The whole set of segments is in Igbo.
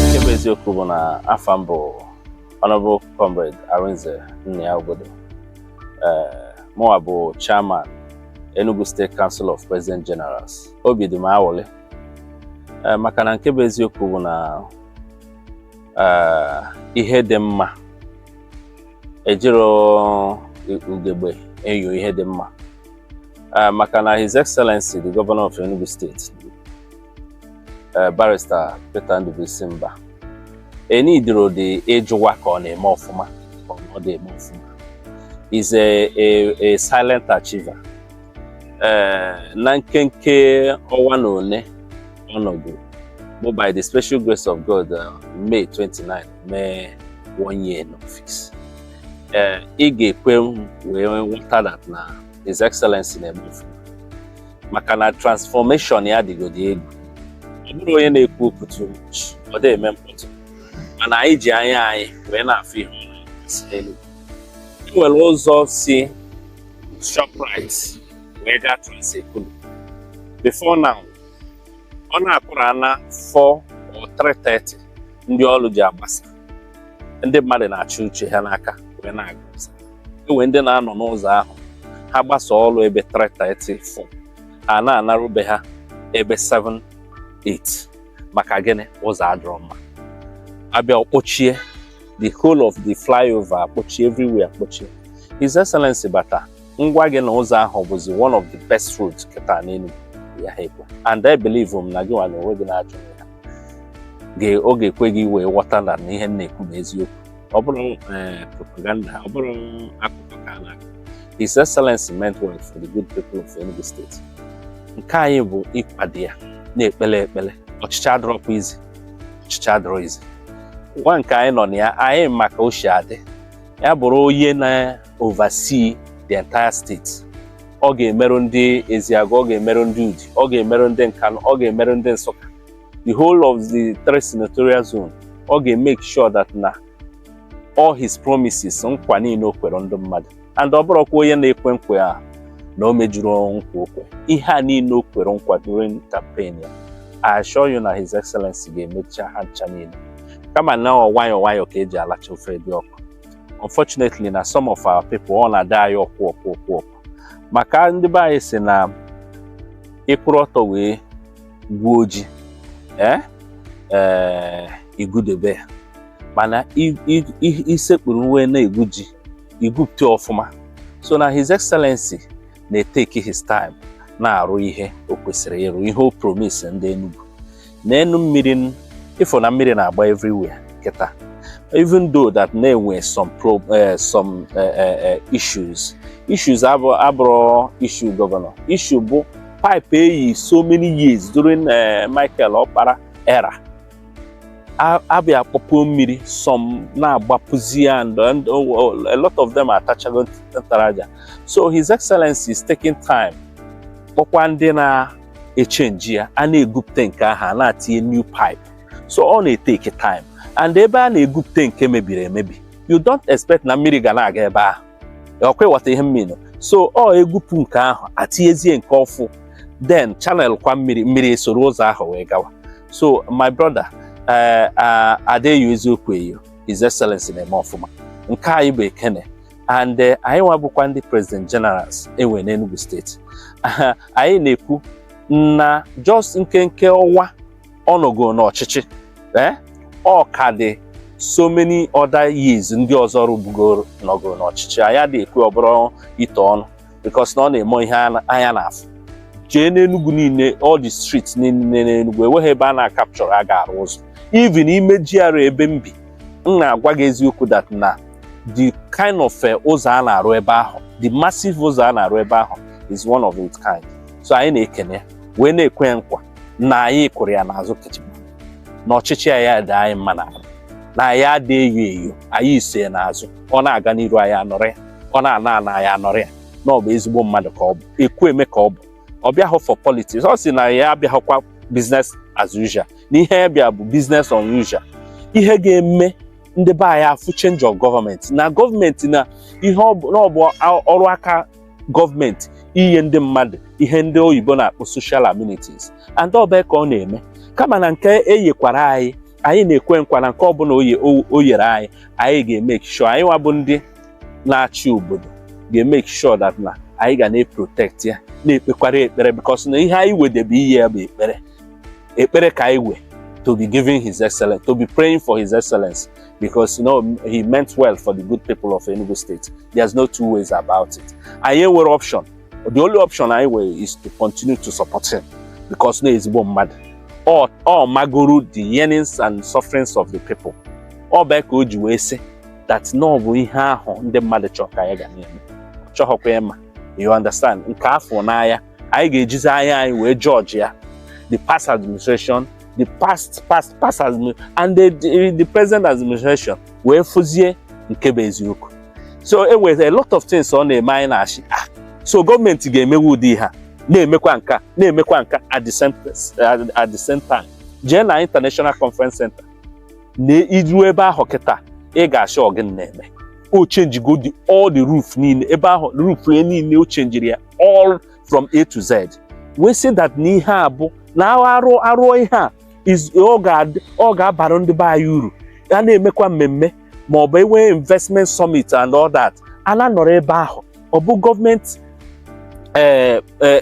nke bụ eziokwu bụ na afa m bụ Honorable Comrade Arinze Nnia Ogbodo mụwa bụ chairman Enugu State Council of President Generals obi dị m awụlị maka na nke bụ eziokwu bụ na ihe dị mma ejiro ugegbe enyo ihe dị mma maka na His Excellency the Governor of Enugu State eh, barista Peter Ndubuisi Mbah e needirọ dị ịjụwa ka ọ na-eme ọfụma ka ọ dị eme ọfụma is a, a, a silent achiever eh, na nkenke ọnwa na one ọ nọgo bụ by the special grace of God eh, May 29 mee one year in office eh, ị ga-ekwe wee wọta that na His Excellency na-eme ọfụma maka na transformation ya dịgodị egwu ọ bụrọ onye na-ekwu okwu too much ọ dị eme mkpọtụ mana anyị ji anya anyị wee na-afụ ihe ọ na-asị n'Enugu e nwere ụzọ si Shoprite wee gaa Trans-Ekulu before now ọ na-akụ around 4 or 3:30 ndị ọrụ ji agbasa ndị mmadụ na-achị uche ha n'aka wee na-aga enwe ndị na-anọ n'ụzọ ahụ ha gbasa ọrụ ebe 3:30 4 ha na-anaru be ha ebe 7 8 maka gịnị ụzọ adịrọ mma a bịa ọ kpọchie the whole of the flyover akpọchie everywhere akpọchie His Excellency bata m gwa gị na ụzọ ahụ bụzi one of the best roads kịta n'Enugu ya ha ekwe and I believe m na gị nwa na onwe gị na-ajụ ya ọ ga-ekwe gị wee ghọta na ihe m na-ekwu bụ eziokwu ọ bụrọ eh, propaganda ọ bụrọ akụkọ ka a na-akọ His Excellency meant well for the good people of Enugu State nke anyị bụ ịkwado ya na-ekpele ekpele ọchịchị adịrọkwa easy ọchịchị adịrọ easy nwa nke anyị nọ na ya anyị ma ka o si adị ya bụrụ onye na-oversee the entire state ọ ga-emerụ ndị Ezeagu ọ ga-emerụ ndị Udi ọ ga-emerụ ndị Nkanu ọ ga-emerụ ndị Nsukka the whole of the three senatorial zone ọ ga-emake sure that na all his promises nkwa niile o kwere ndị mmadụ and ọ bụrọkwa onye na-ekwe nkwa na o mejurọ nkwa o kwe ihe a niile o kwere nkwa during campaign ya I assure you na his excellency ga-emecha ha ncha niile kama na ọ nwayọọ nwayọọ ka eji alacha ofe dị ọkụ unfortunately na some of our people ọ na-adị anyị ọkụ ọkụ ọkụ ọkụ maka ndị be anyị sị na ịkwụrụ ọtọ wee gwuo ji ee eh, igwudebe ya mana isekpuru nwe na-egwu ji igwupụta ọfụma so na his excellency na-eteki his time na-arụ ihe o kwesịrị ịrụ ihe o promise ndị Enugu n'enu mmiri ịfụ na mmiri na-agba everywhere kịta even though that na enwe some pro, uh, some uh, uh, issues issues abụrọ issue gọvanọ issue bụ pipe eyi so many years during eh, Michael Okpara era a- abịa akpọpuo mmiri some na-agbapuzi ya and and, oh, oh, a lot of them atachago nt- ntaraja so his excellency is taking time kpọkwa ndị na-echenji ya a na-egwupụta nke ahụ a na-atinye new pipe so ọ na-eteki time and ebe a na-egwupụta nke mebiri emebi you don't expect na mmiri ga na-aga ebe ahụ ọkwa ịghọta ihe m mean so ọ egwupụ nke ahụ atinyezie nke ọfụ then channel kwa mmiri mmiri esoro ụzọ ahụ wee gawa so my brother eh, ah, adị eyo eziokwu eyo his excellency na-eme ọfụma nke anyị bụ ekene and eh, anyị nwa bụkwa ndị president generals enwe n'Enugu steeti anyị na-ekwu na just nkenke ọnwa ọ nọgo n'ọchịchị ee eh? ọ ka dị so many other years ndị ọzọ rụbugoro nọgo n'ọchịchị anyị adị ekwe ọbụrụ itu ọnụ because na ọ na-eme ihe anya na-afụ jee n'Enugu niile all the streets niile n'Enugu enweghị ebe a na-akapchọrọ a ga-arụ ụzọ even ime GRA ebe m bi m na-agwa gị eziokwu that na the kind of eh, ụzọ a na-arụ ebe ahụ the massive ụzọ a na-arụ ebe ahụ is one of its kind so anyị na-ekene wee na-ekwe nkwa na anyị kwụrụ ya n'azụ kichim na ọchịchị ya ya dị anyị mma na na anyị adị eyo eyo anyị so ya n'azụ ọ na-aga n'iru anyị anọrị ya ọ na-ana ana anyị anọrị ya na ọ bụ ezigbo mmadụ ka ọ bụ ekwu eme ka ọ bụ ọ bịahụ for politics ọ sị na ya abịahụkwa business as usual na ihe ya bịa bụ business unusual ihe ga-eme ndị be anyị afụ change of gọọmenti na gọọmenti na ihe ọ bụ na ọ bụ ọrụ aka gọọmenti inye ndị mmadụ ihe ndị oyibo na-akpọ social amenities and ọ bụ ya ka ọ na-eme kama na nke eyekwara anyị anyị na-ekwe nkwa na nke ọbụla oye o yere anyị anyị ga-emeki sure anyị nwa bụ ndị na-achị obodo ga-emeki sure that na anyị ga na-eprotect ya na-ekpekwara ekpere because na ihe anyị nwedebe iye ya bụ ekpere ekpere ka anyị nwe to be giving his excellency to be praying for his excellency because you know he meant well for the good people of Enugu State there's no two ways about it anyị enwerọ option the only option anyị nwere is to continue to support him because na ezigbo mmadụ ọ ọ magoro the yearnings and sufferings of the people ọ bụ ya ka o ji wee sị that na ọ bụ ihe ahụ ndị mmadụ chọrọ ka anyị ga na-eme chọghọkwa ịma you understand nke afụ n'anya anyị ga-ejizi anya anyị wee jọjịa the past administration the past past past and the, the, the present administration wee fụzie nke bụ eziokwu so e nwere a lot of things ọ na-eme anyị na-asị ah, so gọọmenti ga-emewe ụdị ihe a na-emekwa nke a na-emekwa nke a at the same at the same time jee na international conference center na i ruo ebe ahụ kịta ị ga-asị ọ gịnị na-eme o chenjigo all the roof niile ebe ahụ roof niile o chenjiri ya all from A to Z we see that na ihe a bụ na a rụọ ihe a ọ ga-abara ndị be anyị uru a na-emekwa mmemme ma ọ bụ e nwee investment summit and all that a na-anọrọ ebe ahụ ọ bụ gọọmenti eh, eh,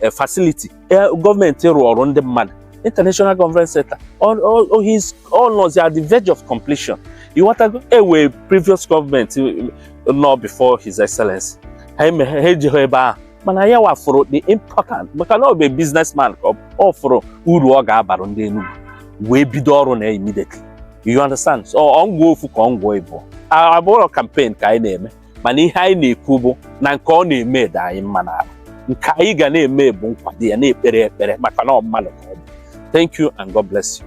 eh, facility eh, gọọmenti rụụrụ ndị mmadụ international conference center ọ- ọ- ọ- he's- ọ nọzi at the verge of completion ị wọtago e nwe previous gọọmenti eh, nọ before his excellency ha eme ha ejeghị ebe ahụ mana ya nwa fụrụ the important maka na ọ bụ businessman ka ọ bụ. ọ fụrụ uru ọ ga-abara ndị Enugu wee bido ọrụ na ya immediately you understand so ọ ngwa ofu ka ọ ngwa ịbụ abụrọ campaign ka anyị na-eme mana ihe anyị na-ekwu bụ na nke ọ na-eme dị anyị mma n'arụ nke anyị ga na-eme bụ nkwado ya na-ekpere ekpere maka na ọ mmadụ ka ọ bụ thank you and God bless you